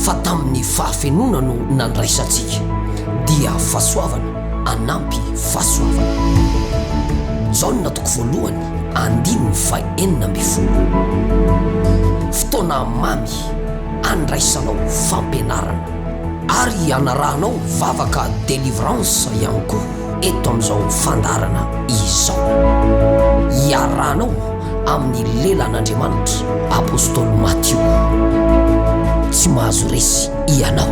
Fa tamin'ny fahafenoana no nandraisantsika, dia fahasoavana anampy fahasoavana. Jaona toko voalohany andininy fahenina ambin'ny folo. Fotoana mamy andraisanao fampianarana. Ary anarahanao vavaka delivrance ihany koa. eto amin'izao fandaharana izao. Iarahanao amin'ny lelan'Andriamanitra Apostoly Matio. Tsy mahazo resy ianao.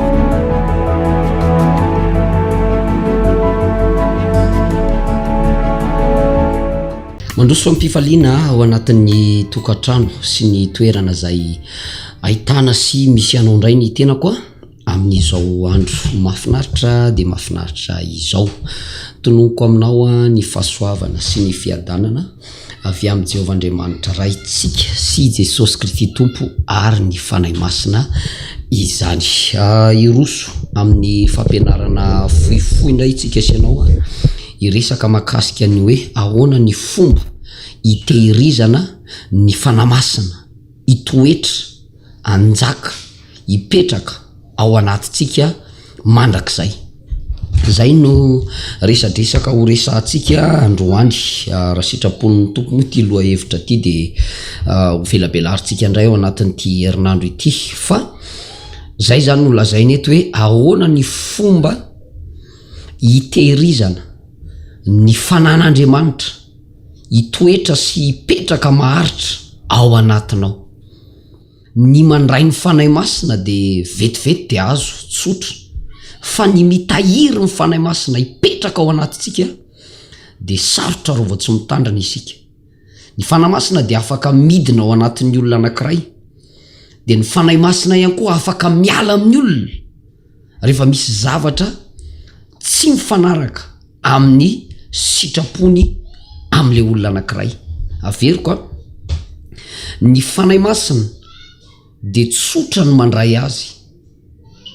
Mandroso fampifaliana ao anatin'ny tokantrano sy ny toerana izay ahitana sy misy anao indray ny tenako a. Amin'izao andro mahafinaritra dia mahafinaritra izao, tononiko aminao ny fahasoavana sy ny fiadanana avy amin'i Jehovah Andriamanitra Raintsika sy i Jesosy Kristy Tompo ary ny Fanahy Masina izany. Hiroso amin'ny fampianarana fohifohy indray isika sy ianao, hiresaka mahakasika ny hoe ahoana ny fomba hitehirizana ny Fanahy Masina hitoetra. hanjaka hipetraka ao anatintsika mandrakizay. Izay no resadresaka ho resahantsika androany raha sitrapon'ny Tompo moa ity lohahevitra ity dia ho velabelarintsika indray ao anatin'ity herinandro ity fa izay izany no lazaina eto hoe ahoana ny fomba hitehirizana ny fanan'Andriamanitra hitoetra sy hipetraka maharitra ao anatinao. Ny mandray ny Fanahy Masina dia vetivety dia azo, tsotra. Fa ny mitahiry ny Fanahy Masina hipetraka ao anatintsika dia sarotra raha vao tsy mitandrina isika. Ny Fanahy Masina dia afaka midina ao anatin'ny olona anankiray, dia ny Fanahy Masina ihany koa afaka miala amin'ny olona. rehefa misy zavatra tsy mifanaraka amin'ny sitrapony amin'ilay olona anankiray. Averiko an, ny Fanahy Masina dia tsotra ny mandray azy.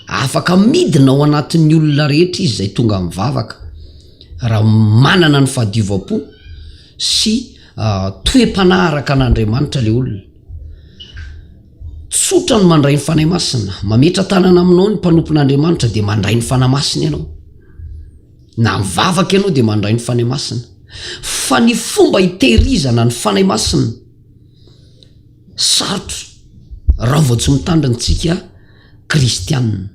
Afaka midina ao anatin'ny olona rehetra izy izay tonga mivavaka raha manana ny fahadiovam-po sy toem-panahy araka an'Andriamanitra ilay olona. Tsotra ny mandray ny Fanahy Masina. Mametra-tanana aminao ny mpanompon'Andriamanitra dia mandray ny Fanahy Masina ianao. Na mivavaka ianao dia mandray ny Fanahy Masina. Fa ny fomba hitehirizana ny Fanahy Masina, sarotra raha vao tsy mitandrina isika kristianina.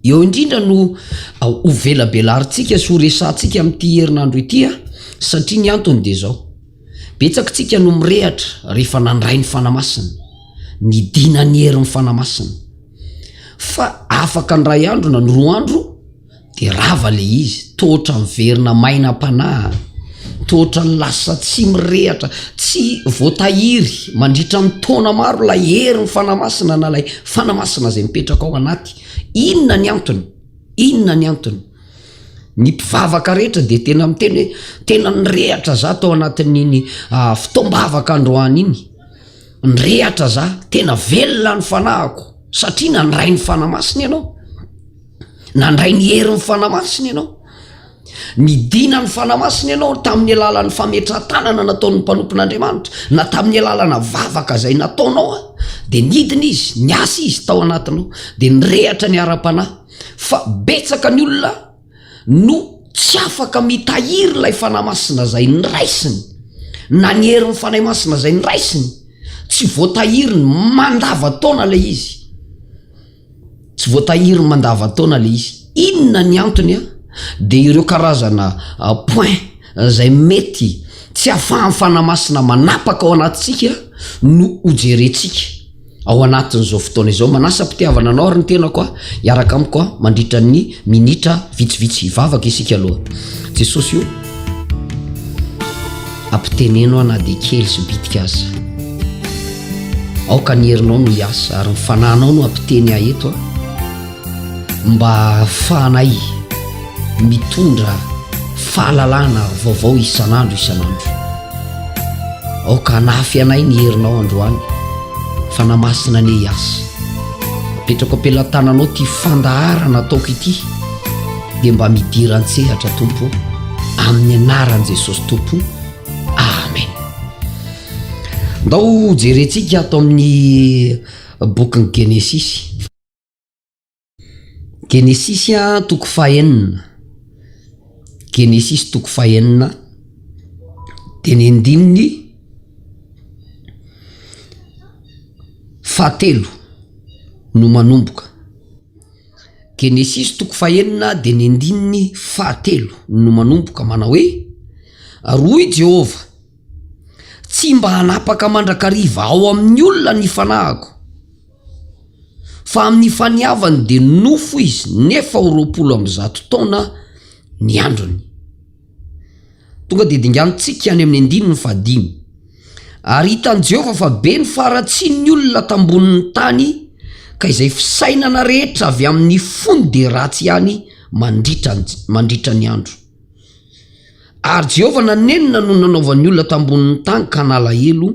Eo indrindra no hovelabelarintsika sy horesahantsika amin'ity herinandro ity satria ny antony dia izao, betsak'tsika no mirehatra rehefa nandray ny Fanahy Masina, nidina ny herin'ny Fanahy Masina, fa afaka indray andro na ny roa andro dia rava ilay izy, toa ohatran'ny verina maina am-panahy. Tohotra ny lasa tsy mirehatra, tsy voatahiry mandritra ny taona maro ilay herin'ny Fanahy Masina na ilay Fanahy Masina izay mipetraka ao anaty. Inona ny antony? Inona ny antony? Ny mpivavaka rehetra dia tena miteny hoe tena nirehatra za tao anatin'iny ah, fotoam-bavaka androany iny. Nirehatra za, tena velona ny fanahiko satria nandray ny Fanahy Masina ianao. Nandray ny herin'ny Fanahy Masina ianao. Nidina ny Fanahy Masina ianao tamin'ny alalan'ny fametrahan-tanana nataon'ny mpanompon'Andriamanitra, na tamin'ny alalana vavaka izay nataonao an, dia nidina Izy, niasa Izy tao anatinao, dia nirehatra ny ara-panahy. Fa betsaka ny olona no tsy afaka mitahiry ilay Fanahy Masina izay niraisiny, na ny herin'ny Fanahy Masina izay niraisiny, tsy voatahiriny, mandava-taona ilay izy. Tsy voatahiry mandavantaona le izy. Inona ny antony a? Dia ireo karazana points izay mety tsy afahan'ny Fanahy Masina manapaka ao anatintsika no hojerentsika ao anatin'izao fotoana izao. Manasam-pitiavana anao ary ny tenako a, hiaraka amiko mandritra ny minitra vitsivitsy hivavaka isika aloha. Jesosy o! Ampiteneno aho na dia kely sy bitika aza. Aoka ny herinao no hiasa ary ny fananao no hampiteny ahy eto a! Mba hahafahanay mitondra fahalalana vaovao isan'andro isan'andro. Aoka hanafy anay ny herinao androany fa na masina anie hiasa. Apetrako am-pelatananao ity fandaharana ataoko ity. dia mba midira an-tsehatra tompo amin'ny anaran'i jesosy tompo amen ndao jerentsika ato amin'ny bokin'ny genesisy genesisy a toko fahenina genesisy toko fahenina dia ny andininy fahatelo no manomboka Genesisy toko fahenina dia ny andininy fahatelo no manomboka manao hoe, Ary hoy i Jehovah, Tsy mba hanapaka mandrakariva ao amin'ny olona ny fanahiko, fa amin'ny faniavany dia nofo izy nefa ho roapolo amby zato taona ny androny. Tonga dia dinganintsika any amin'ny andininy fahadimy. Ary hitan'i Jehovah fa be ny faharatsian'ny olona tambonin'ny tany, ka izay fisainana rehetra avy amin'ny fony dia ratsy ihany mandritra ny, mandritra ny andro. Ary Jehovah nanenina no nanaovan'ny olona tambonin'ny tany ka nalahelo,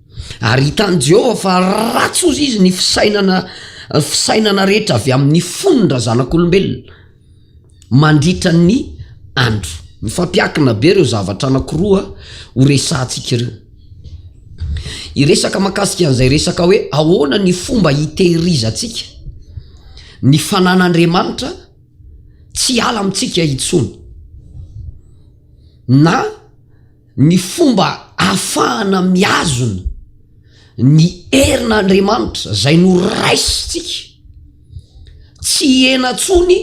Ary hitan'i Jehovah fa ratsy hozy izy ny fisainana fisainana rehetra avy amin'ny fon'ny razanak'olombelona mandritra ny andro. Mifampiankina be ireo zavatra anankiroa horesahantsika ireo. Hiresaka makasika an'izay resaka hoe ahoana ny fomba hitehirizantsika ny fanan'Andriamanitra tsy hiala amintsika intsony na Ny fomba ahafahana mihazona ny herin'Andriamanitra izay noraisintsika tsy hihena intsony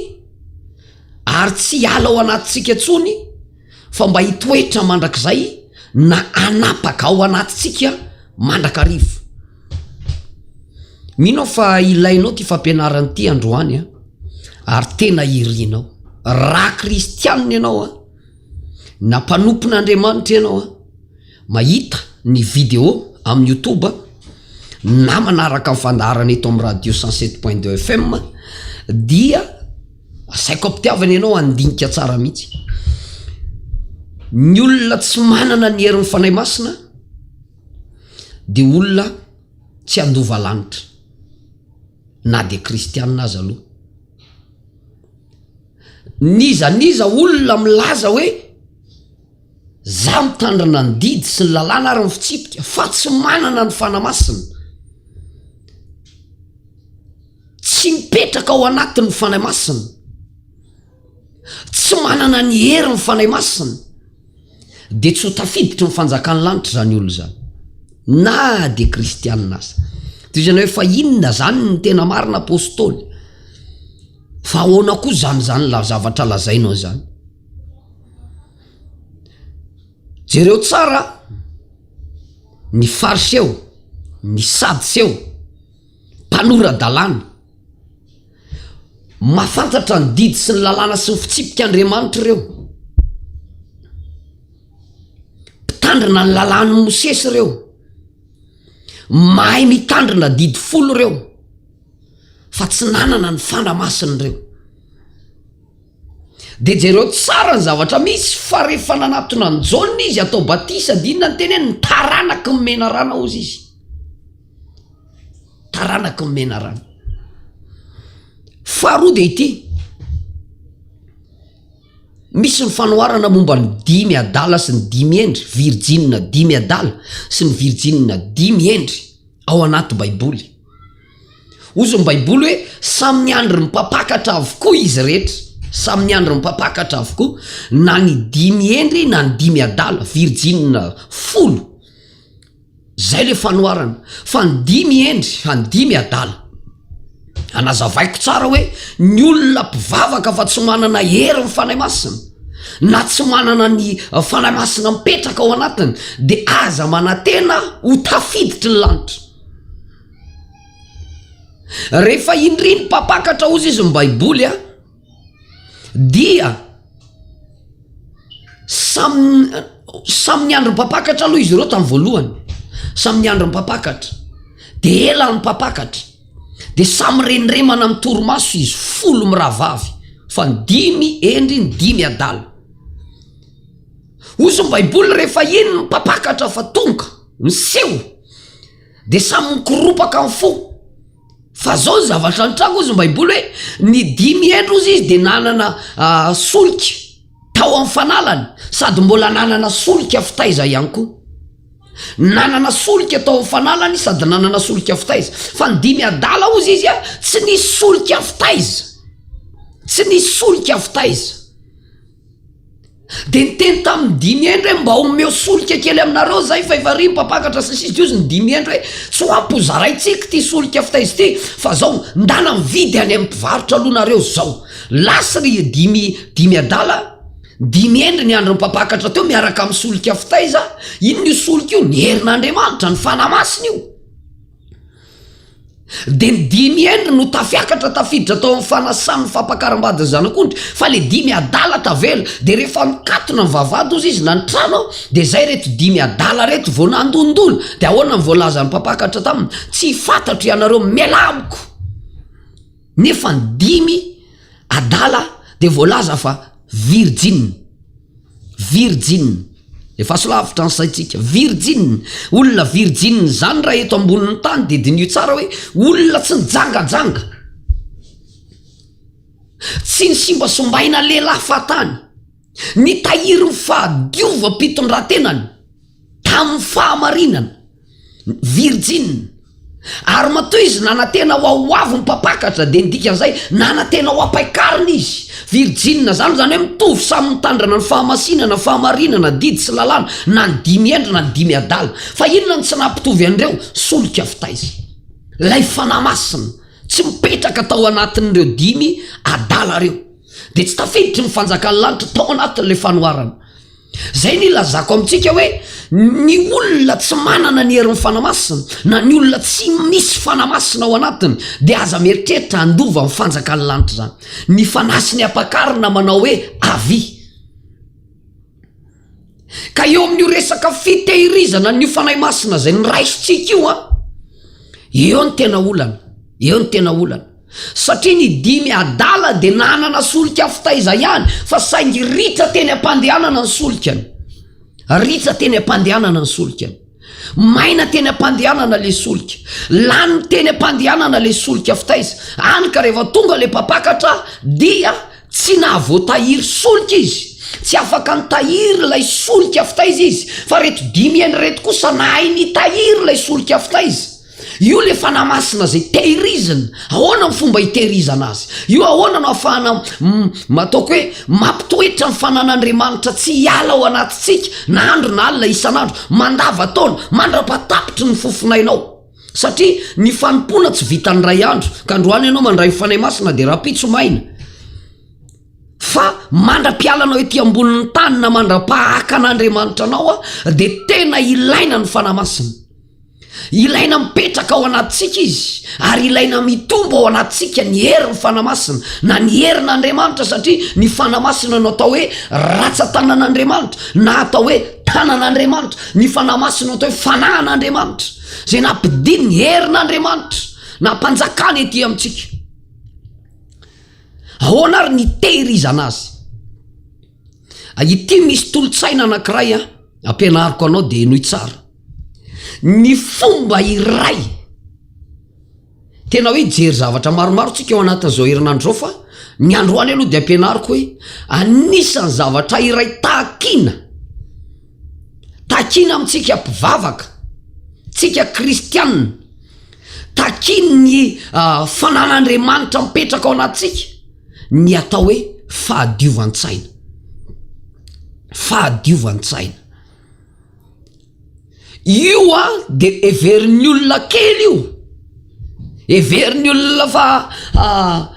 ary tsy hiala ao anatintsika intsony fa mba hitoetra mandrakizay na hanapaka ao anatintsika mandrakariva. Mino aho fa ilainao ity fampianarana ity androany ary tena irinao. Raha kristianina ianao an! Na mpanompon' Andriamanitra ianao an, mahita ny video amin'ny youtube na manaraka ny fandaharana eto amin'ny radio cent sept point deux FM dia asaiko am-pitiavana ianao handinika tsara mihitsy. Ny olona tsy manana ny herin'ny Fanahy Masina dia olona tsy handova lanitra na dia kristiana aza aloha. N'iza n'iza olona milaza hoe za mitandrina ny didy sy ny lalàna ary ny fitsipika fa tsy manana ny Fanahy Masina, tsy mipetraka ao anatin' ny Fanahy Masina, tsy manana ny herin' ny Fanahy Masina. dia tsy ho tafiditry ny fanjakan'ny lanitra izany olona izany, na dia kristianina aza. Toy izany hoe fa inona izany ny tena marina apostoly? Fa ahoana koa izany izany la zavatra lazainao izany? Jereo tsara ny fariseo, ny sadiseo. Tanora dalàna. Mahafantatra ny didy sy ny lalàna sy ny fitsipik' Andriamanitra ireo. Mpitandrina ny lalàn'i Mosesy ireo. Mahay mitandrina didy folo ireo fa tsy nanana ny fana masina ireo. Dia jereo tsara ny zavatra misy fa rehefa nanatona an'i Jaona izy hatao batisa dia inona no teneniny? Taranaky ny menarana hozy izy. taranaky ny menarana faharoa de ity misy ny fanoharana momba ny dimy adala sy ny dimy hendry virjinina dimy adala sy ny virjinina dimy hendry ao anaty baiboly ozy ny baiboly hoe samy ny andry ny mpampakatra avokoa izy rehetra samy ny andry ny mpampakatra avokoa na ny dimy hendry na ny dimy adala virjinina folo Zay le fanoharana fa ny dimy hendry fa ny dimy adala. Anazavaiko tsara hoe ny olona mpivavaka fa tsy manana hery ny Fanahy Masina na tsy manana ny Fanahy Masina mipetraka ao anatiny de aza manatena ho tafiditry ny lanitra. Rehefa indry ny mpampakatra ozy izy ny baiboly a. dia samy samy niandry mpampakatra aloha izy ireo tamin'ny voalohany samy niandry mpampakatra de ela ny mpampakatra de samy rendremana amin'ny torimaso izy folo mirahavavy fa ny dimy hendry ny dimy adala hozy ny baiboly rehefa iny ny mpampakatra fa tonga miseho de samy mikoropaka ny fo Fa zao ny zavatra nitranga ozy ny baiboly hoe ny dimy hendry ozy izy dia nanana solika tao amin'ny fanalany sady mbola nanana solika fitaiza ihany koa. Nanana solika tao amin'ny fanalany izy sady nanana solika fitaiza. Fa ny dimy adala ozy izy tsy nisy solika fitaiza. Tsy nisy solika fitaiza. Dia niteny tamin'ny dimy hendry hoe, Mba omeo solika kely aminareo izay, fa efa ry mpampakatra sy ny sisa Dia hozy ny dimy hendry hoe, Tsy ho ampy hozaraintsika ity solika fitaiza ity, fa izao, ndana mividy any amin'ny mpivarotra aloha nareo izao. Lasa ry dimy dimy adala, dimy hendry niandry ny mpampakatra teo miaraka amin'ny solika fitaiza, inona io solika io? Ny herin'Andriamanitra, ny Fanahy Masina io. Dia ny dimy hendry no tafiakatra tafiditra tao amin'ny fanasan'ny fampakaram-bady ny zanak'ondry fa ilay dimy adala tavela. Dia rehefa mikatona ny vavahady hozy izy na ny trano aho dia izay ireto dimy adala ireto vao nandondona. Dia ahoana ny voalazan'ny mpampakatra taminy? Tsy fantatro ianareo mialà amiko! Nefa ny dimy adala dia voalaza fa virjiny. Virjiny. Efa aso lavitra ny saintsika. Virjiny. Olona virjiny izany raha eto ambonin'ny tany dia diniho tsara hoe olona tsy nijangajanga. Tsy nisimbasombaina lehilahy fahatany. Nitahiry ny fahadiovam-pitondran-tenany tamin'ny fahamarinana. Virjiny. Ary matoa izy nanantena ho ao ho avy ny mpampakatra, dia ny dikan'izay, nanantena ho ampain-kariny izy. Virjinina izany, izany hoe mitovy samy mitandrana ny fahamasinana, fahamarinana, didy sy lalàna, na ny dimy hendry na ny dimy adala. Fa inona no tsy nahapitovy an'ireo? Solika fitaiza. Ilay Fanahy Masina, tsy mipetraka tao anatin'ireo dimy adala ireo. Dia tsy tafiditry ny fanjakan'ny lanitra tao anatin'ilay fanoharana. Izay no ilazako amintsika hoe ny olona tsy manana ny herin'ny Fanahy Masina, na ny olona tsy misy Fanahy Masina ao anatiny, dia aza mieritreritra handova ny fanjakan'ny lanitra izany. Ny Fanahy sy ny Ampakarina manao hoe avia. Ka eo amin'io resaka fitehirizana an'io Fanahy Masina izay noraisitsika io an, eo ny tena olana, eo ny tena olana. Satria ny dimy adala dia nanana solika fitaiza ihany fa saingy ritra teny am-pandehanana ny solikany. Ritra teny am-pandehanana ny solikany. Maina teny am-pandehanana ilay solika. Lany teny am-pandehanana ilay solika fitaiza. Hany ka rehefa tonga ilay mpampakatra dia tsy nahavoatahiry solika izy. Tsy afaka nitahiry ilay solika fitaiza izy fa ireto dimy heny ireto kosa nahay nitahiry ilay solika fitaiza. Io ilay Fanahy Masina izay tehirizina. Ahoana ny fomba hitehirizana azy? Io ahoana no ahafahana m, ataoko hoe, mampitoetra ny fanan'Andriamanitra tsy hiala ao anatintsika, na andro na alina, isan'andro, mandavan-taona, mandra-patapitry ny fofonainao? Satria ny fanompoana tsy vitan'ny iray andro, ka androany ianao mandray ny Fanahy Masina dia rahampitso maina. Fa mandra-piala anao ety ambonin'ny tany na mandra-pahaka an'Andriamanitra anao, dia tena ilaina ny Fanahy Masina. Ilaina mipetraka ao anatintsika Izy, ary ilaina mitombo ao anatintsika ny herin'ny Fanahy Masina, na ny herin' Andriamanitra, satria ny Fanahy Masina no atao hoe ratsan-tanan' Andriamanitra, na atao hoe tanan' Andriamanitra, ny Fanahy Masina no atao hoe fanahin' Andriamanitra, izay nampidin' ny herin' Andriamanitra nampanjakany ety amintsika. Ahoana ary ny nitehirizana Azy? Ity misy tolotsaina anankiray ampianariko anao dia henoy tsara. Ny fomba iray tena hoe hijery zavatra maromaro tsika eo anatin'izao herinandro izao fa ny androany aloha dia ampianariko hoe anisan'ny zavatra iray takina. Takina amintsika mpivavaka, tsika kristianina takiany ny fananan'Andriamanitra mipetraka ao anatintsika ny atao hoe fahadiovan-tsaina fahadiovan-tsaina io a de everin'ny olona kely io everin'ny olona fa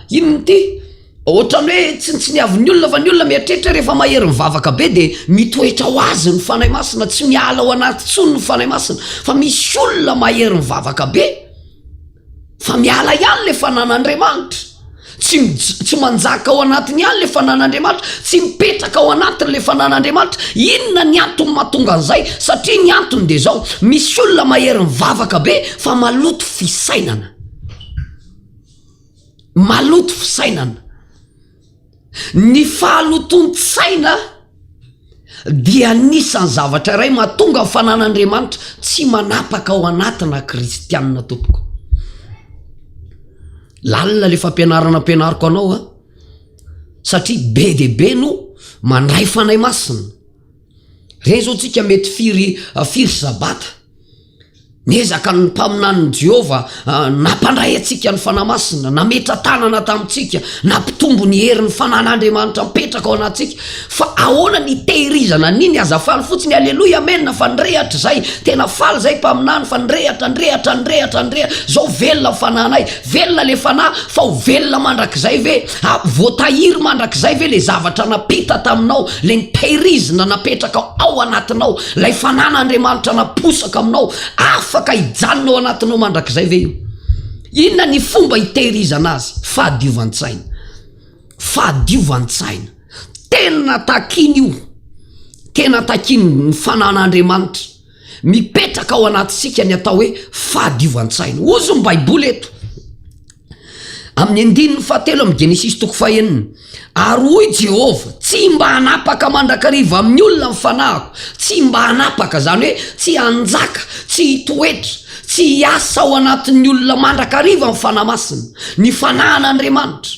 inona ity Ohatran'ny hoe tsintsiniavin'ny olona fa ny olona mieritreritra rehefa mahery mivavaka be dia mitoetra ho azy ny Fanahy Masina, tsy miala ao anaty intsony ny Fanahy Masina, fa misy olona mahery mivavaka be fa miala ihany ilay Fanan'Andriamanitra, tsy tsy manjaka ao anatiny ihany ilay Fanan'Andriamanitra, tsy mipetraka ao anatiny ilay Fanan'Andriamanitra, inona ny antony mahatonga an'izay? Satria ny antony dia izao, misy olona mahery mivavaka be fa maloto fisainana. maloto fisainana. Ny fahalotoan-tsaina dia anisan'ny zavatra iray mahatonga ny fananan'Andriamanitra tsy manapaka ao anatina kristianina tompoko. Lalina le fampianarana ampianariko anao a. Satria be dia be no mandray fanahy masina. Reny zao tsika mety firy firy sabata. Niezaka ny mpaminanin'i Jehovah nampandray antsika ny fanahy masina, nametra-tanana tamintsika, nampitombo ny herin'ny fanan'Andriamanitra mipetraka ao anatintsika. Fa ahoana ny hitehirizana an'iny? Aza faly fotsiny, Aleloia, Amena, fa nirehatra izay. Tena faly izay mpaminany fa nirehatra, nirehatra, nirehatra, nirehatra. Izao velona ny fanahinay. Velona ilay fanahy, fa ho velona mandrakizay ve? Voatahiry mandrakizay ve ilay zavatra nampita taminao, ilay nitehirizina napetraka ao anatinao? Ilay fanana Andriamanitra naposaka aminao afaka hijanona ao anatinao mandrakizay ve io? Inona ny fomba hitehirizana azy? Fahadiovan-tsaina. Fahadiovan-tsaina. Tena takiany io. Tena takiany ny fanana Andriamanitra. Mipetraka ao anatintsika ny atao hoe fahadiovan-tsaina. Ozy ny Baiboly eto. Amin'ny andininy fahatelo amin'ny Genesisy toko fahenina, Ary hoy Jehovah, Tsy mba hanapaka mandrakariva amin'ny olona ny fanahiko, tsy mba hanapaka, izany hoe tsy hanjaka, tsy hitoetra, tsy hiasa ao anatin'ny olona mandrakariva ny fanahy masina, ny fanahin'Andriamanitra.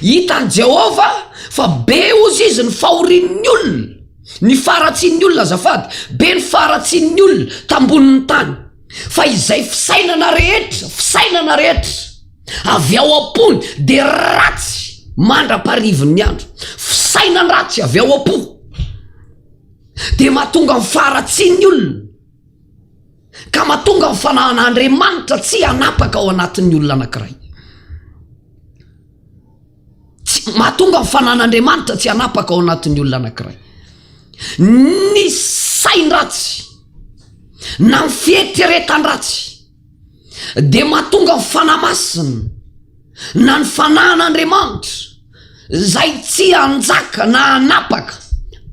Hitan'i Jehovah fa be hozy izy ny fahorian'ny olona, ny faharatsian'ny olona, azafady, be ny faharatsian'ny olona tambonin'ny tany. Fa izay fisainana rehetra, fisainana rehetra, avy ao am-pony, dia ratsy mandra-parivin'ny andro. Fisainandratsy avy ao am-po dia mahatonga ny faharatsian'ny olona. Ka mahatonga ny fanahan'Andriamanitra tsy hanapaka ao anatin'ny olona anankiray. Tsy, mahatonga ny fanahan'Andriamanitra tsy hanapaka ao anatin'ny olona anankiray. Ny sain-dratsy na ny fieritreretan-dratsy dia mahatonga ny fanahy masina na ny fanahin'Andriamanitra izay tsy hanjaka na hanapaka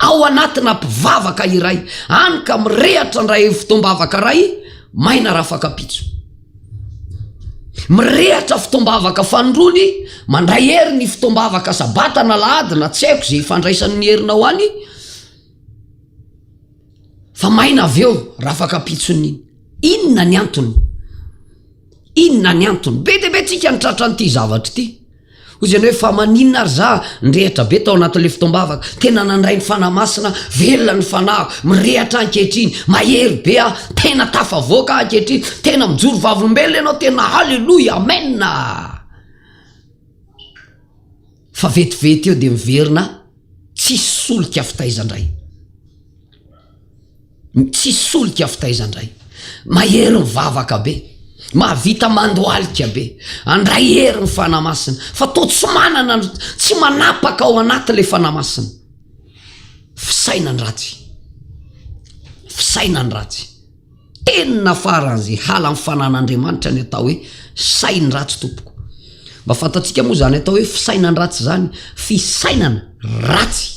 ao anatina mpivavaka iray, hany ka mirehatra ndray fotoam-bavaka ray maina rafakapitso. Mirehatra fotoam-bavaka fanondrony, mandray hery ny fotoam-bavaka sabata na lahady na tsy haiko izay ifandraisan'ny herinao any, Fa maina avy eo raha afaka ampitson'ny iny. Inona ny antony? Inona ny antony? Be dia be tsika ny tratran'ity zavatra ity. Hoy izy ianao hoe fa maninona ary za ny rehetra be tao anatin'ilay fotoam-bavaka. Tena nandray ny fanahy masina, velona ny fanahiko, mirehatra ankehitriny, mahery be aho, tena tafavoaka aho ankehitriny, tena mijoro vavolombelona ianao, tena haleloia, amena. Fa vetivety eo dia miverina tsisy solika fitaiza ndray. Tsisy solika fitaiza ndray. Mahery mivavaka be. Mahavita mandohalika be. Andray hery ny Fanahy Masina. Fa toa tsy manana, tsy manapaka ao anaty ilay Fanahy Masina. Fisainany ratsy. Fisainany ratsy. Tena faran'izay halan'ny fanan'Andriamanitra ny atao hoe sain-dratsy tompoko. Mba fantatsika moa izany atao hoe fisainan-dratsy izany, fisainana ratsy.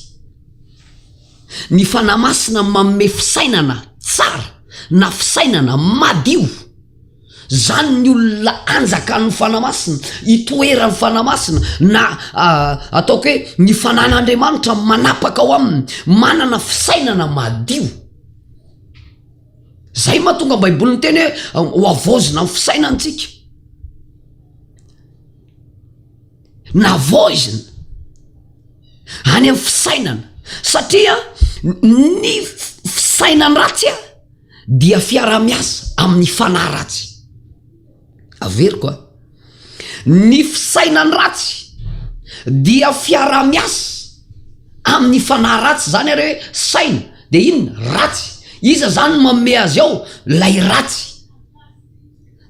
Ny fanahy masina manome fisainana tsara na fisainana madio. Izany ny olona anjakan'ny fanahy masina, itoeran'ny fanahy masina na ataoko hoe ny fanan'Andriamanitra manapaka ao aminy, manana fisainana madio. Izay no mahatonga ny Baiboly niteny hoe hohavaozina ny fisainantsika. Navaozina any amin'ny fisainana satria ny fisainana ratsy dia fiaraha-miasa amin'ny fanahy ratsy. Averiko a. Ny fisainan ratsy dia fiaraha miasa amin'ny fanahy ratsy zany ary hoe saina de inona ratsy iza zany no manome azy ao lay ratsy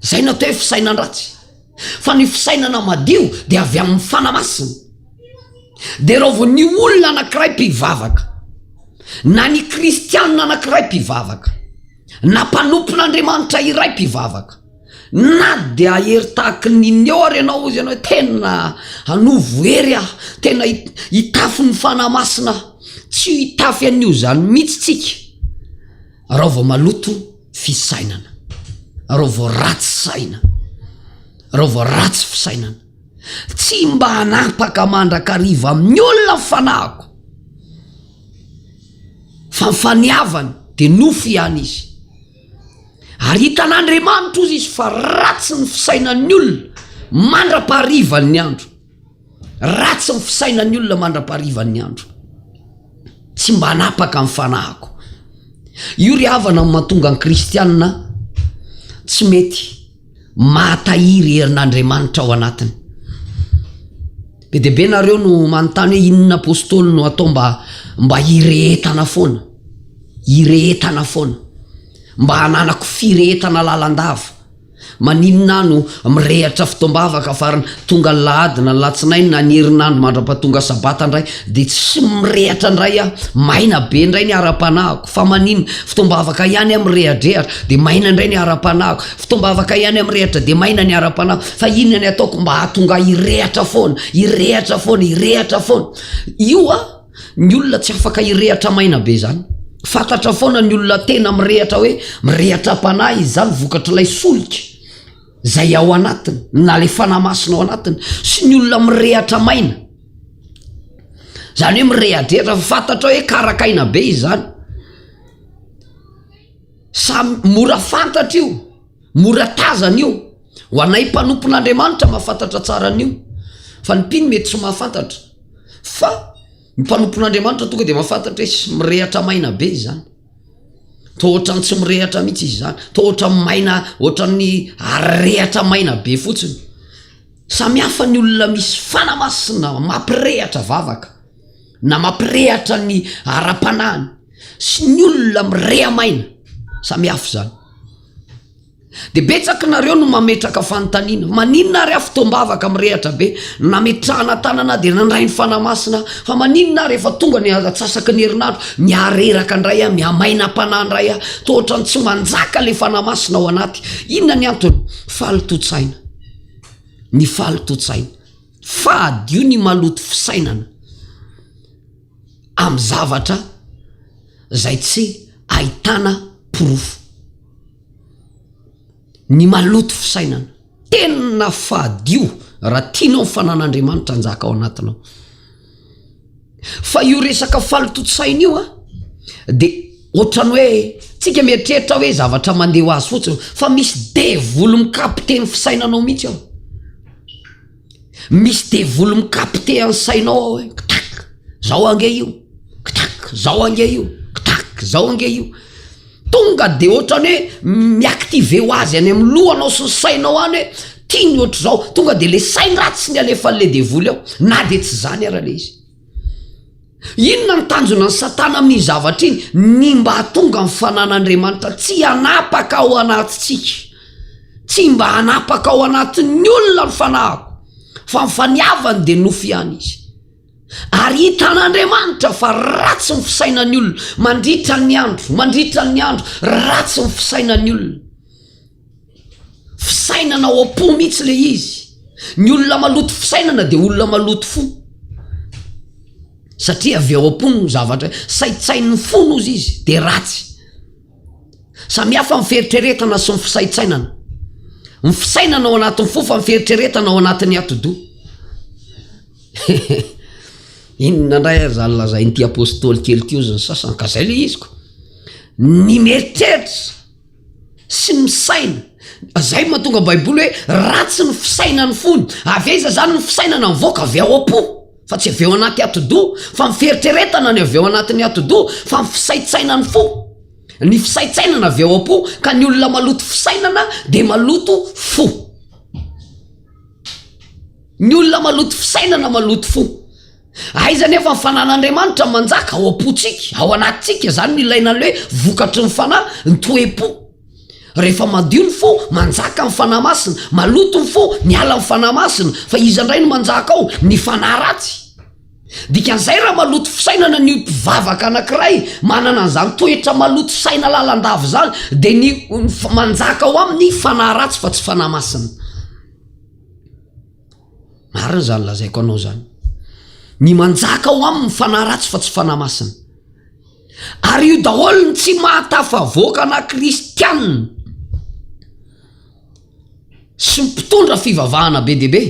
zay no atao hoe fisainan dratsy fa ny fisainana madio de avy amin'ny fana masina de raha vao ny olona anakiray mpivavaka na ny kristianina anakiray mpivavaka Na mpanompon'Andriamanitra iray mpivavaka. Na dia hery tahaky ny inona eo ary ianao, hoy ianao hoe, Tena hanovo hery aho, tena hitafy ny Fanahy Masina aho. Tsy hitafy an'io izany mihitsy tsika raha vao maloto fisainana, raha vao ratsy saina, raha vao ratsy fisainana. Tsy mba hanapaka mandrakariva amin'ny olona ny fanahiko, fa ny faniavany dia nofo ihany izy. Ary hitan'Andriamanitra, hoy izy, fa ratsy ny fisainan'ny olona mandra-paharivan'ny andro. Ratsy ny fisainan'ny olona mandra-paharivan'ny andro. Tsy mba hanapaka ny fanahiko. Io ry havana no mahatonga ny kristiana tsy mety. Mahatahiry herin'Andriamanitra ao anatiny. Be dia be nareo no manontany hoe inona apostoly no atao mba mba hirehetana foana. Hirehetana foana. Mba hananako firehetana lalandava. Maninona aho no mirehatra fotoam-bavaka fa ry tonga ny lahady na ny latsinainy na ny herinandro mandra-pahatonga sabata indray dia tsy mirehatra indray aho. Maina be indray ny ara-panahiko. Fa maninona? Fotoam-bavaka ihany aho mirehadrehatra, dia maina indray ny ara-panahiko. Fotoam-bavaka ihany aho mirehatra, dia maina ny ara-panahiko. Fa inona ny ataoko mba hahatonga ahy hirehatra foana, hirehatra foana, hirehatra foana? Io an! Ny olona tsy afaka hirehatra maina be izany. Fantatra foana ny olona tena mirehatra hoe mirehatra am-panahy, izany vokatr'ilay solika. izay ao anatiny na ilay fanahy masina ao anatiny sy ny olona mirehatra maina izany hoe mirehadrehatra fa fantatra hoe karakaina be izany samy mora fantatra io mora tazana io ho anay mpanompon'andriamanitra mahafantatra tsara an'io fa ny mpino mety tsy mahafantatra fa Ny mpanompon'Andriamanitra tonga dia mahafantatra hoe tsy mirehatra maina be izany. Toa ohatran'ny tsy mirehatra mihitsy izy izany. Toa ohatran'ny maina, ohatran'ny arehatra maina be fotsiny. Samy hafa ny olona misy fanamasina mampirehatra vavaka na mampirehatra ny ara-panahiny sy ny olona mireha-maina. Samy hafa izany. Dia betsak nareo no mametraka fanontaniana, maninona ary aho fotoam-bavaka mirehatra be, nametrahana tanana dia nandray ny Fanahy Masina aho, fa maninona aho rehefa tonga ny atsasaky ny herinandro, mihareraka indray aho, mihamainam-panahy indray aho, toa ohatran'ny tsy manjaka ilay Fanahy Masina ao anaty. Inona ny antony? Faly to-tsaina. Ny faly to-tsaina. Fadio ny maloto fisainana amin'ny zavatra izay tsy ahitana porofo. Ny maloto fisainana. Tena fadio raha tianao ny fanan'Andriamanitra hanjaka ao anatinao. Fa io resaka falotontsaina io an, dia ohatran'ny hoe tsika mieritreritra hoe zavatra mandeha ho azy fotsiny fa misy devoly mikapite ny fisainanao mihitsy ao. Misy devoly mikapite an'ny sainao ao hoe ktak, zao ange io, ktak, zao ange io, ktak, zao ange io. Tonga de ohatrany hoe mi-activer ho azy any amin'ny lohanao sy ny sainao any hoe tiany ohatr'izao. Tonga de le sain-dratsiny alefan'le devoly ao na de tsy zany ara le izy. Inona no tanjonan'i Satana amin'iny zavatra iny? Ny mba hahatonga ny fananan'Andriamanitra tsy hanapaka ao anatintsika. Tsy mba hanapaka ao anatin'ny olona ny fanahiko, fa ny faniavany dia nofy ihany izy. Ary hitan'Andriamanitra fa ratsy ny fisainan'ny olona, mandritra ny andro, mandritra ny andro, ratsy ny fisainan'ny olona. Fisainana ao am-po mihitsy ilay izy. Ny olona maloto fisainana dia olona maloto fo. Satria avy ao am-po no zavatra, saintsain'ny fo no izy izy, dia ratsy. Samy hafa ny fieritreretana sy ny fisaintsainana. Ny fisainana ao anatin'ny fo fa ny fieritreretana ao anatin'ny atidoha. Inona indray ary izany lazain'ity apôstôly kely ity hozy ny sasany ka izay ilay izy ko. Ny mieritreritra sy ny misaina zay no mahatonga ny baiboly hoe ratsy ny fisainan'ny fony avy aiza zany ny fisainana mivoaka avy ao am-po fa tsy avy eo anaty atidoha fa ny fieritreretana ny avy eo anatin'ny atidoha fa ny fisaintsainan'ny fo ny fisaintsainana avy ao am-po ka ny olona maloto fisainana dia maloto fo ny olona maloto fisainana maloto fo Aiza anefa ny fanan'Andriamanitra manjaka ao am-pontsika, ao anatintsika, izany no ilaina ilay hoe vokatry ny fanahy, ny toe-po. Rehefa madio ny fo, manjaka ny fanahy masina, maloto ny fo, miala ny fanahy masina, fa iza indray no manjaka ao? Ny fanahy ratsy. Dikan'izay raha maloto fisainana ny mpivavaka anankiray, manana an'izany toetra maloto saina lalandava izany, dia ny manjaka ao aminy fanahy ratsy fa tsy fanahy masina. Marina zany lazaiko anao zany. Ny manjaka ao aminy fanahy ratsy fa tsy fanahy masina. Ary io daholo ny tsy mahatafavoaka na kristianina sy mpitondra fivavahana be dia be.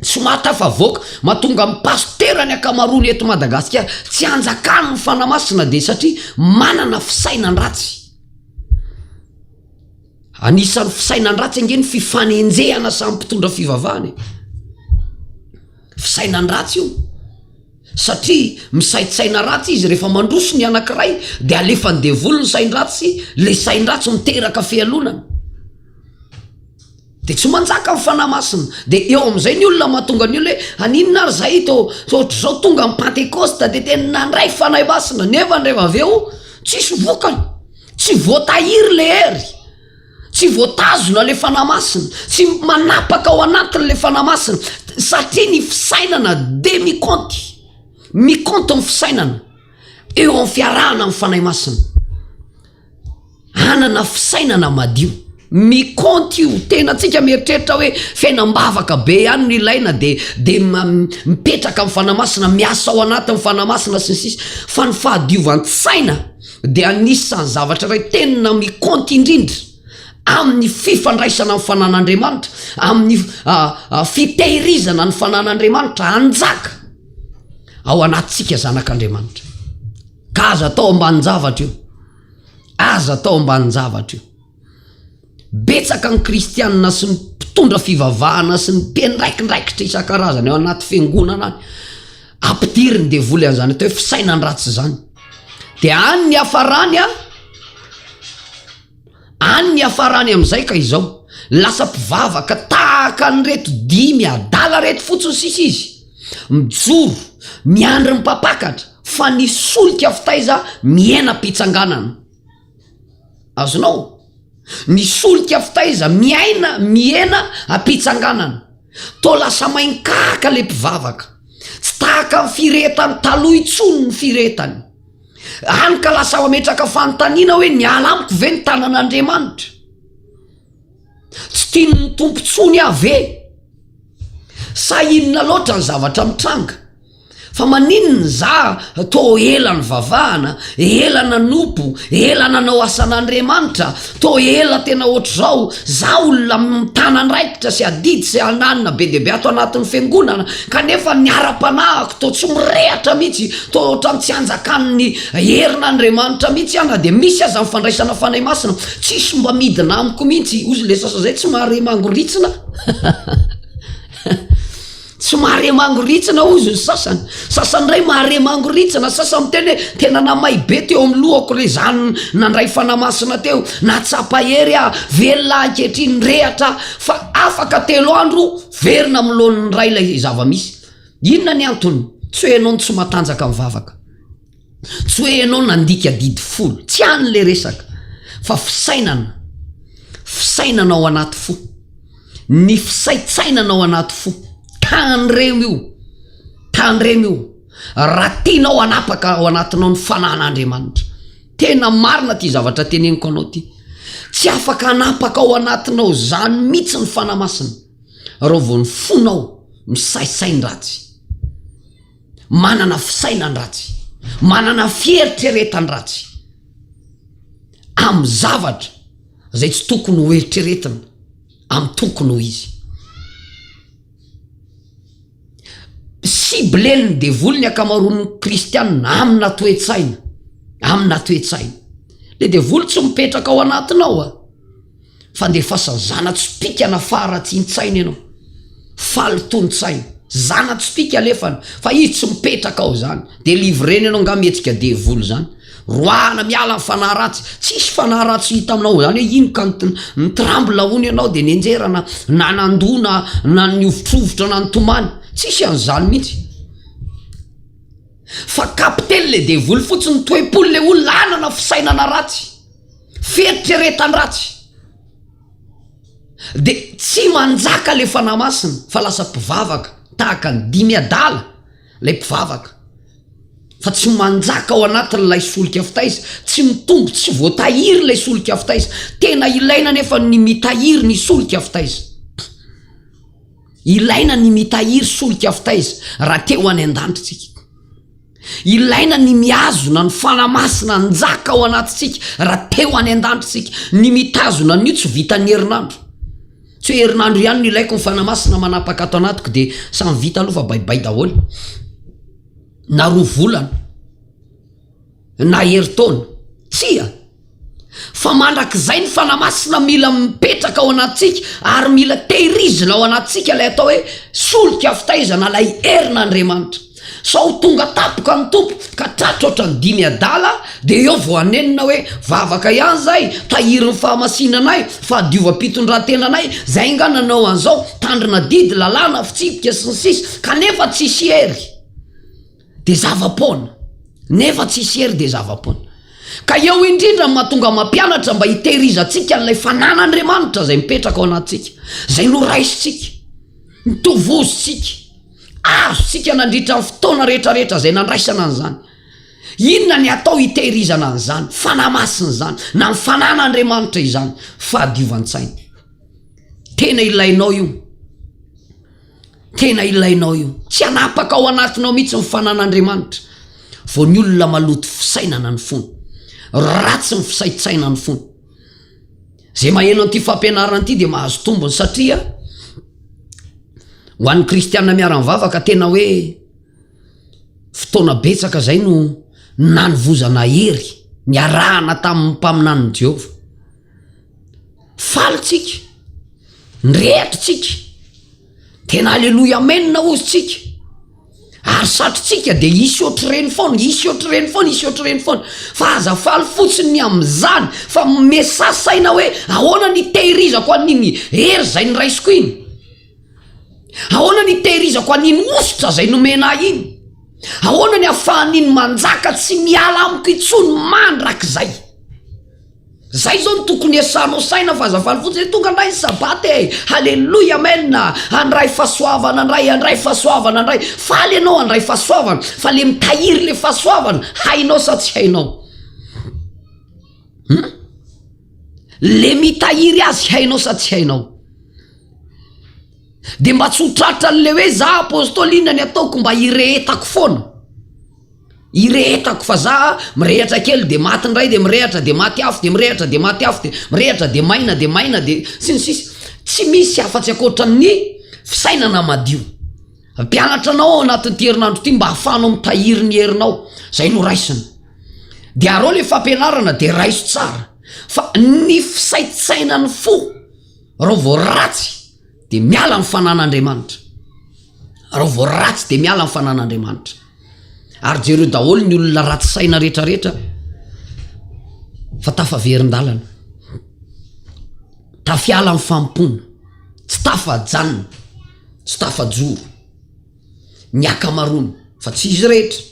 Tsy mahatafavoaka, mahatonga amin'ny pasitera ny ankamaroany eto Madagasikara tsy hanjakany ny fanahy masina dia satria manana fisainan-dratsy. Anisan'ny fisainan-dratsy ange ny fifanenjehana samy mpitondra fivavahana e. Fisainan-dratsy io. Satria misaintsaina ratsy izy rehefa mandroso ny anankiray dia alefan'ny devoly ny sain-dratsy, ilay sain-dratsy miteraka fialonana. Dia tsy manjaka ny fanahy masina. Dia eo amin'izay ny olona mahatonga ny olona hoe aninona ary izahay to to ohatr'izao tonga ny pantekosta dia tena nandray fanahy masina nefa rehefa avy eo tsisy vokany. Tsy voatahiry le hery, tsy voatazona le Fanahy Masina, tsy manapaka ao anatiny le Fanahy Masina, satria ny fisainana de mikaonty, mikaonty ny fisainana eo amin'ny fiarahana amin'ny Fanahy Masina, hanana fisainana madio. Ny compte io, tena antsika mieritreritra hoe fenam-bavaka be ihany no ilaina de de mipetraka amin'ny Fanahy Masina, miasa ao anatin'ny Fanahy Masina sy ny sisa fa ny fahadiovan-tsaina de anisan'ny zavatra iray tena mi compte indrindra amin'ny fifandraisana amin'ny Fanan'Andriamanitra, amin'ny fitehirizana ny Fanan'Andriamanitra hanjaka ao anatintsika zanak'Andriamanitra. Ka aza atao ambanin-javatra io, aza atao ambanin-javatra io. Betsaka ny kristianina sy ny mpitondra fivavahana sy ny mpiandraikindraikitra isan-karazany ao anaty fiangonana any ampidirin'ny devoly an'izany atao hoe fisainan-dratsy izany. Dia any ny hafarany an, any ny hafarany amin'izay ka izao, lasa mpivavaka tahaka an'ireto dimy adala ireto fotsiny sisa izy, mijoro, miandry ny mpampakatra, fa ny solika avy taiza mihena am-pitsanganana. Azonao? Ny solika fitaiza miaina mihena am-pitsanganana. Toa lasa main-karika ilay mpivavaka. Tsy tahaka ny firehetany taloha intsony ny firehetany. Hany ka lasa mametraka fanontaniana hoe niala amiko ve ny tanan'Andriamanitra? Tsy tian'ny Tompo intsony aho ve? Sa inona loatra ny zavatra mitranga? Fa maninona za tô ela nivavahana, ela nanompo, ela nanao asan'Andriamanitra, tô ela tena otrzao, za olona mitana andraikitra sy adidy sy ananina be dia be ato anatin'ny fiangonana, kanefa ny ara-panahiko tô tsy mirehatra mihitsy, tô otran'ny tsy anjakan'ny herin'Andriamanitra mihitsy aho na dia misy aza ny fandraisana Fanahy Masina, tsisy mba midina amiko mihitsy, ozy le sasa zay tsy mahare mangoritsina. Tsy mahare mangoritsina hozy ny sasany. Sasany indray mahare mangoritsina, sasany miteny hoe tena namay be teo amin'ny lohako ilay izany nandray fanahy masina teo, nahatsapa hery aho, velona aho ankehitriny, rehatra aho. Fa afaka telo andro verina amin'ny laoniny iray ilay zava-misy. Inona ny antony? Tsy hoe ianao no tsy matanjaka mivavaka. Tsy hoe ianao nandika adidy folo, tsy any ilay resaka fa fisainana, fisainana ao anaty fo, ny fisaintsainana ao anaty fo, tandremo io, tandremo io raha tianao hanapaka ao anatinao ny fanahin'Andriamanitra. Tena marina ity zavatra teneniko anao ity, tsy afaka hanapaka ao anatinao izany mihitsy ny Fanahy Masina raha vao ny fonao misaisay ny ratsy. manana fisainan-dratsy, manana fieritreretan-dratsy amin'ny zavatra izay tsy tokony ho eritreretina amin'ny tokony ho izy. Ciblen'ny devoly ny ankamaroan'ny kristianina amina toe-tsaina, amina toe-tsaina. Le devoly tsy mipetraka ao anatinao a. Fandefasa zana-tsipìkana faharatsian-tsaina ianao. Faly ton-tsaina. Zana-tsipìka alefany fa izy tsy mipetraka ao izany. Délivrena ianao angaha mihetsika devoly izany. Roahana miala ny fanahy ratsy. Tsisy fanahy ratsy hita aminao ao izany hoe ino ka ny tremble hono ianao dia nenjera na na nandoa na na nihovitrovitra na nitomany. Tsisy an'izany mihitsy. Fa kapiten'ilay devoly fotsiny, toe-pony ilay olona hanana fisainana ratsy. Fieritreretan-dratsy dia tsy manjaka ilay Fanahy Masina fa lasa mpivavaka tahaka ny dimy adala ilay mpivavaka fa tsy manjaka ao anatin'ilay solika fitaiza, tsy mitombo, tsy voatahiry ilay solika fitaiza. Tena ilaina anefa ny mitahiry ny solika fitaiza. Ilaina ny mitahiry solika fitaiza raha te ho any an-danitra isika. Ilaina ny mihazona ny Fanahy Masina hanjaka ao anatintsika raha te ho any an-danitra isika. Ny mitazona an'io tsy vitan'ny herinandro. Tsy hoe herinandro ihany no ilaiko ny Fanahy Masina manapaka ato anatiko dia samy vita aloha fa baibay daholo. Na roa volana, na herintaona, tsia. Fa mandrakizay ny Fanahy Masina mila mipetraka ao anatintsika ary mila tehirizina ao anatintsika ilay atao hoe solika fitaizana ilay herin'Andriamanitra. Sao ho tonga tampoka ny Tompo ka tratra ohatran'ny dimy adala dia eo vao hanenina hoe vavaka ihany izay, tahirin'ny fahamasinanay, fahadiovam-pitondrantenanay, izay angaha nanao an'izao, tandrina didy, lalàna, fitsipika, sy ny sisa, kanefa tsisy hery. dia zava-poana. Nefa tsy hisy hery dia zava-poana. Ka eo indrindra ny mahatonga mampianatra mba hitehirizantsika an'ilay fananan'Andriamanitra izay mipetraka ao anatintsika, izay noraisintsika, notovozintsika, azontsika nandritra ny fotoana rehetrarehetra izay nandraisana an'izany. Inona ny atao hitehirizana an'izany, fanahy masina izany, na ny fananan'Andriamanitra izany, fahadiovan-tsaina. Tena ilainao io. Tena ilainao io. Tsy hanapaka ao anatinao mihitsy ny fanan'Andriamanitra vao ny olona maloto fisainana ny fony. Ratsy ny fisaintsainan'ny fony. Izay maheno an'ity fampianarana ity dia mahazo tombony satria ho an'ny kristianina miara-mivavaka tena hoe fotoana betsaka izay no nanovozana hery niarahana tamin'ny mpaminanin'i Jehovah. Faly tsika, mirehitra tsika, tena aleloia amen hozy tsika, ary satritsika dia hisy ohatr'ireny foana, hisy ohatr'ireny foana, hisy ohatr'ireny foana, fa aza faly fotsiny ny amin'izany, fa me sa saina hoe ahoana ny hitehirizako an'iny hery izay noraisiko iny, ahoana ny hitehirizako an'iny hosotra izay nomena ahy iny, ahoana ny afahan'iny manjaka tsy miala amiko intsony mandrakizay. Zay zao no tokony hiasanao saina fa aza faly fotsiny hoe tonga ndray ny sabata e! Haleloia amen a! Handray fahasoavana ndray handray fahasoavana ndray! Faly ianao handray fahasoavana fa le mitahiry le fahasoavana hainao sa tsy hainao? Hum? Le mitahiry azy hainao sa tsy hainao? Dia mba tsy ho tratran'ilay hoe za apostoly inona ny ataoko mba hirehetako foana? Irehetako fa za mirehatra kely dia maty indray dia mirehatra dia maty afo dia mirehatra dia maty afo dia mirehatra dia maina dia maina dia sy ny sisa Tsy misy afa tsy ankoatra ny fisainana madio Hampianatra anao ao anatin'ity herinandro ity mba hahafahanao mitahiry ny herinao Izay no raisina Dia arao ilay fampianarana dia raiso tsara Fa ny fisaintsainan'ny fo Rao vao ratsy dia miala ny fanan'Andriamanitra Rao vao ratsy dia miala ny fanan'Andriamanitra. Ary jereo daholo ny olona ratsy saina rehetra rehetra fa tafaverin-dalana, tafiala amin'ny fanompoana, tsy tafajanona, tsy tafajoro ny akamaroany fa tsy izy rehetra.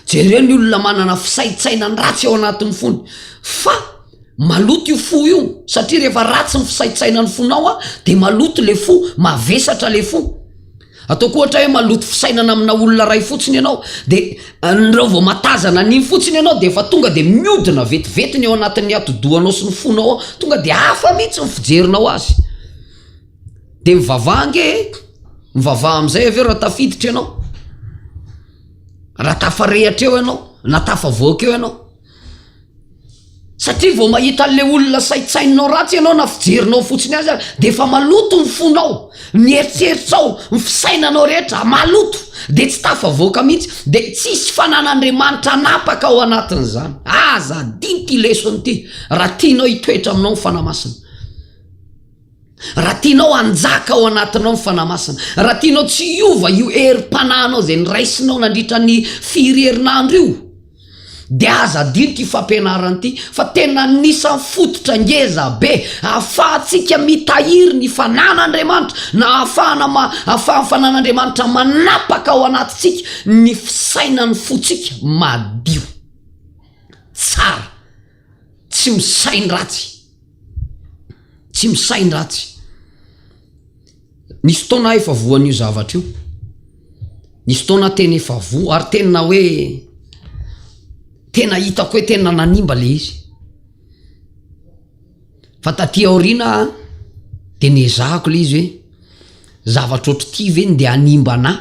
Jereo ny olona manana fisaintsainany ratsy ao anatin'ny fony fa maloto io fo io satria rehefa ratsy ny fisaintsainan'ny fonao dia maloto ilay fo, mavesatra ilay fo. Ataoko ohatra hoe maloto fisainana amina olona iray fotsiny ianao dia anreo vao matazana an'iny fotsiny ianao dia efa tonga dia miodina vetivety ny ao anatin'ny atidohanao sy ny fonao ao tonga dia hafa mihitsy ny fijerinao azy dia mivavaha ange e mivavaha amin'izay avy eo raha tafiditra ianao raha tafarehatra eo ianao na tafavoaka eo ianao Satria vao mahita an'ilay olona saintsaininao ratsy ianao na fijerinao fotsiny aza dia efa maloto ny fonao, ny eritreritrao, ny fisainanao rehetra maloto dia tsy tafavoaka mihitsy dia tsy hisy fanan'Andriamanitra hanapaka ao anatin'izany. Aza adino ity lesona ity raha tianao hitoetra aminao ny Fanahy Masina. Raha tianao hanjaka ao anatinao ny Fanahy Masina, raha tianao tsy hiova io herim-panahinao izay noraisinao nandritra ny firy herinandro io, dia aza adino ity fampianarana ity, fa tena anisan'ny fototra ngeza be ahafahantsika mitahiry ny Fanan'Andriamanitra, na ahafahana ma, ahafahan'ny Fanan'Andriamanitra manapaka ao anatintsika ny fisainan'ny fontsika madio. Tsara. Tsy misain-dratsy, tsy misain-dratsy. Nisy fotoana aho efa voan'io zavatra io, nisy fotoana aho tena efa voa ary tena hoe tena hitako hoe tena nanimba ilay izy. Fa taty aoriana aho dia niezahako ilay izy hoe zavatra ohatr'ity ve no ndeha hanimba anà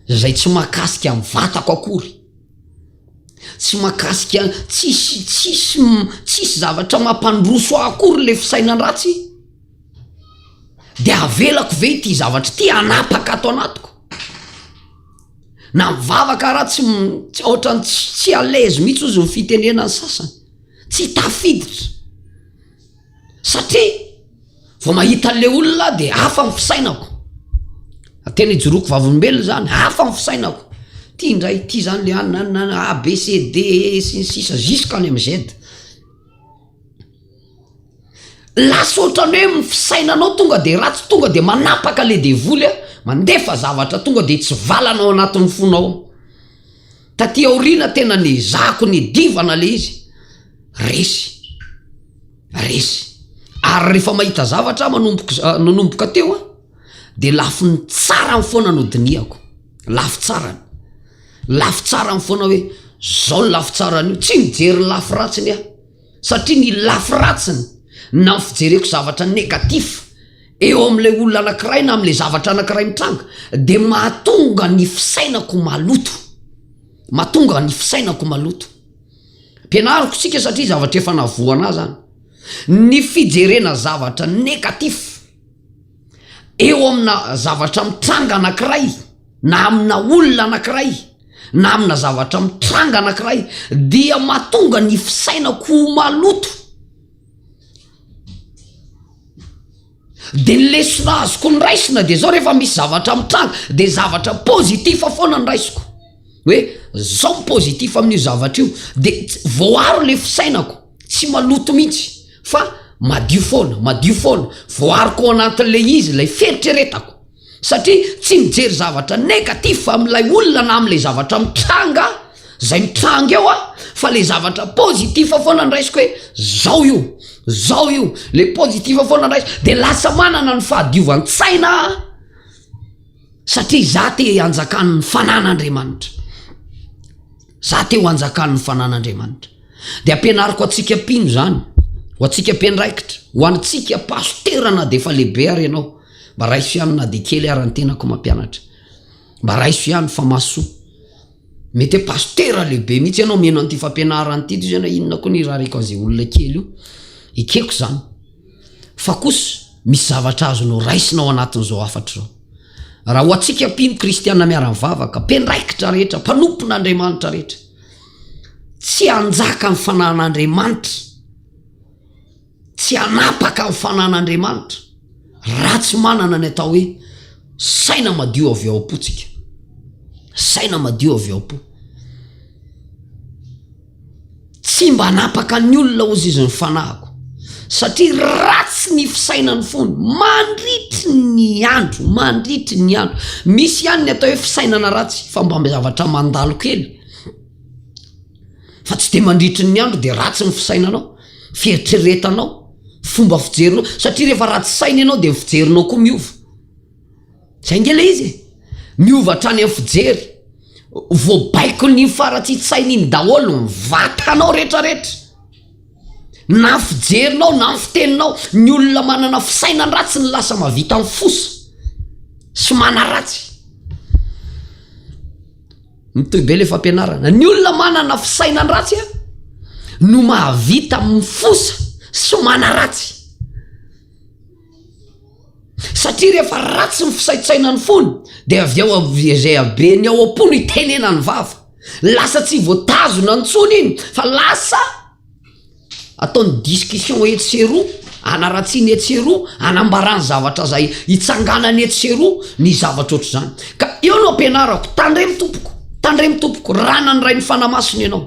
izay tsy mahakasika ny vatako akory. Tsy mahakasika an, tsisy tsisy tsisy zavatra mampandroso ahy akory le fisainan ratsy de avelako ve ity zavatra ity hanapaka ato anatiko? Na mivavaka ra tsy otrany tsy tsy à l'aise mitsy ozy ny fitenenany sasany tsy tafiditra. satria vao mahita an'ilay olona aho dia hafa ny fisainako, tena ijoroako vavolombelona izany, hafa ny fisainako, ity indray ity izany ilay any na na na A, B, C, D, E, F, sy ny sisa jusqu'à any amin'ny Z. Lasa ohatran'ny hoe ny fisainanao tonga dia ratsy, tonga dia manapaka ilay devoly, mandefa zavatra tonga dia tsy valana ao anatin'ny fonao ao. Taty aoriana tena niezahako nidivana le izy, resy, resy. Ary refa mahita zavatra ah manomboka za nanomboka teo an de lafiny tsarany foana no dinihako, lafy tsarany, lafy tsarany foana hoe zao ny lafy tsarany io, tsy mijery ny lafy ratsiny ah. Satria ny lafy ratsiny na ny fijereko zavatra negatif eo amin'ilay olona anankiray na amin'ilay zavatra anankiray mitranga dia mahatonga ny fisainako maloto. Mahatonga ny fisainako maloto. Ampianariko isika satria zavatra efa navoanà izany. Ny fijerena zavatra negatif. eo amina zavatra mitranga anankiray na amina olona anankiray na amina zavatra mitranga anankiray dia mahatonga ny fisainako ho maloto dia ny lesona azoko ny raisina dia zao rehefa misy zavatra mitranga dia zavatra positif foana ny raisiko hoe zao ny positif amin'io zavatra io dia voaaro le fisainako tsy maloto mihitsy fa madio foana, madio foana, voariko ao anatin'ilay izy ilay fieritreretako satria tsy mijery zavatra négatif amin'ilay olona na amin'ilay zavatra mitranga aho, izay mitranga eo aho fa ilay zavatra positif foana no raisiko hoe izao io, izao io, ilay positif foana no raisiko dia lasa manana ny fahadiovan-tsaina aho satria izaho te hanjakan'ny fanan'Andriamanitra. Za te ho anjakan' ny Fanan' Andriamanitra. Dia ampianariko antsika mpino izany, ho antsika mpiandraikitra, ho antsika pasitera na dia efa lehibe ary ianao. Mba raiso ihany na dia kely ara ny tenako mampianatra. Mba raiso ihany fa mahasoa. Mety hoe pasitera lehibe mihitsy ianao mino an'ity fampianarana ity toy izay na inona koa ny irariako an'izay olona kely io. Ekeko izany. Fa kosa misy zavatra azonao raisina ao anatin'izao hafatra izao. Raha ho antsika mpino kristiana miara-mivavaka, mpiandraikitra rehetra, mpanompon'Andriamanitra rehetra, tsy hanjaka amin'ny fananan'Andriamanitra, tsy hanapaka amin'ny fananan'Andriamanitra, raha tsy manana ny atao hoe saina madio avy ao am-pontsika. Saina madio avy ao am-po. Tsy mba hanapaka ny olona hozy izy ny fanahiko, satria ratsy ny fisainan'ny fony mandritry ny andro, mandritry ny andro. Misy ihany ny atao hoe fisainana ratsy fa mba zavatra mandalo kely, fa tsy dia mandritry ny andro dia ratsy ny fisainanao, fieritreretanao, fomba fijerinao, satria rehefa ratsy saina ianao dia ny fijerinao koa miova. Zay ange le izy e! Miova hatrany am fijery. Voabaikon'iny faratsitsainy iny daholo ny vatanao rehetra rehetra. Na fijerinao na ny fiteninao. Ny olona manana fisainan dratsy no lasa mavita am fosa sy manaratsy. Mitohy be le fampianarana. Ny olona manana fisainan dratsy a no mahavita am fosa sy manaratsy. Satria rehefa ratsy ny fisaintsainany fony dia avy eo izay habeny ao am-po no hitenenany vava. Lasa tsy voatazona intsony iny fa lasa ataony discussion etsy sy eroa, hanaratsiany etsy sy eroa, hanambarany zavatra izay hitsanganany etsy sy eroa ny zavatra ohatr'izany. Ka eo no ampianarako, tandremo tompoko, tandremo tompoko, rànan'ny Rain'ny Fanahy Masina ianao.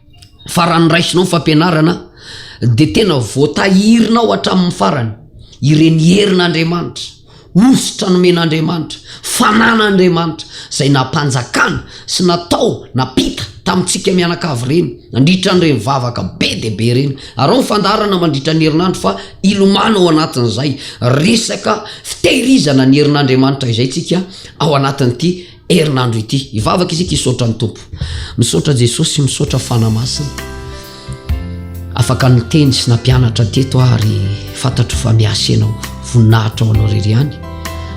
fa raha ny raisinao ny fampianarana dia tena voatahirinao hatramin'ny farany ireny herin'Andriamanitra, hosotra nomen'Andriamanitra, fanan'Andriamanitra izay nampanjakana sy natao nampita tamintsika mianakavy ireny nandritra an'ireny vavaka be dia be ireny. Arao ny fandaharana mandritra ny herinandro fa hilomano ao anatin'izay resaka fitehirizana ny herin'Andriamanitra izay tsika ao anatin'ity herinandro ity hivavaka isika hisaotra ny tompo misaotra jesosy misaotra fana masina afaka nyteny sy nampianatra teto ary fantatro fa miasy anao voninahitra ao anao rery any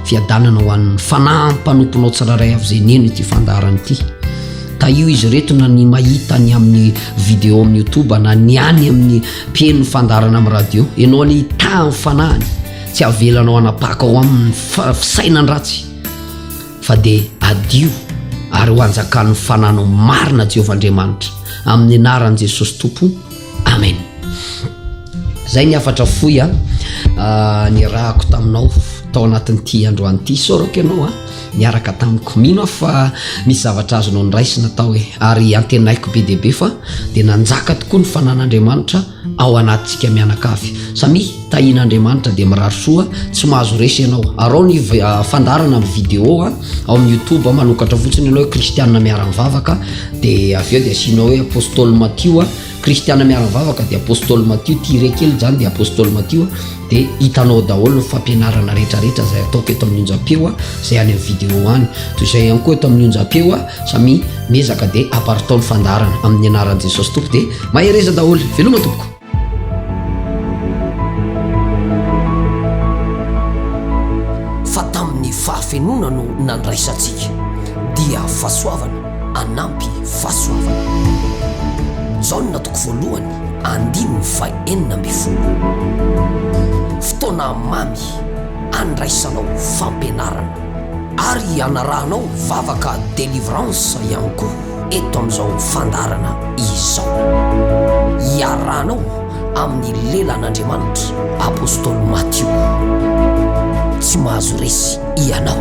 fiadanana ho an'ny fanahy mpanomponao tsiraray avy zay neno ity fandarana ity ka io izy reto na ny mahita ny amin'ny video amin'ny youtube na ny any amin'ny mpienony fandarana amin'ny radio ianao anie hitahan'ny fanahiny tsy avelanao anapaka ao amin'ny fisainany ratsy fa dia adio ary ho anjakan'ny fananao marina Jehovah Andriamanitra amin'ny anaran'i Jesosy Tompo Amen zay ny hafatra fohy a ah, nirahako taminao tao anatin'ity androany ity sorako ianao a niaraka tamiko mino aho fa misy zavatra azonao nyraisina tao e ary antenaiko be dia be fa dia nanjaka tokoa ny fanan'andriamanitra ao anatintsika mianakavy. Samia tahin' Andriamanitra dia mirary soa, tsy mahazo resy ianao. Araho ny fandaharana amin'ny vidéo ao amin'ny youtube, manokatra fotsiny ianao hoe kristiana miara-mivavaka dia avy eo dia asianao hoe Apostoly Matio, kristiana miara-mivavaka dia Apostoly Matio, tirer kely izany dia Apostoly Matio. Dia hitanao daholo ny fampianarana rehetrarehetra izay ataoko eto amin'ny onjam-peo a, izay any amin'ny vidéo any. Toy izay ihany koa eto amin'ny onjam-peo a, samy miezaka dia aparitao ny fandaharana amin'ny anaran'i Jesosy Tompo dia mahereza daholo. Veloma tompoko. Fa tamin'ny fahafenoana no nandraisantsika, dia fahasoavana. hanampy fahasoavana. Jaona toko voalohany andininy faha enina ambin'ny folo. Fotoana mamy handraisanao fampianarana ary hanarahanao vavaka delivrance ihany koa eto amin'izao fandaharana izao. Iarahanao amin'ny lelan'Andriamanitra. Apostoly Matio, tsy mahazo resy ianao.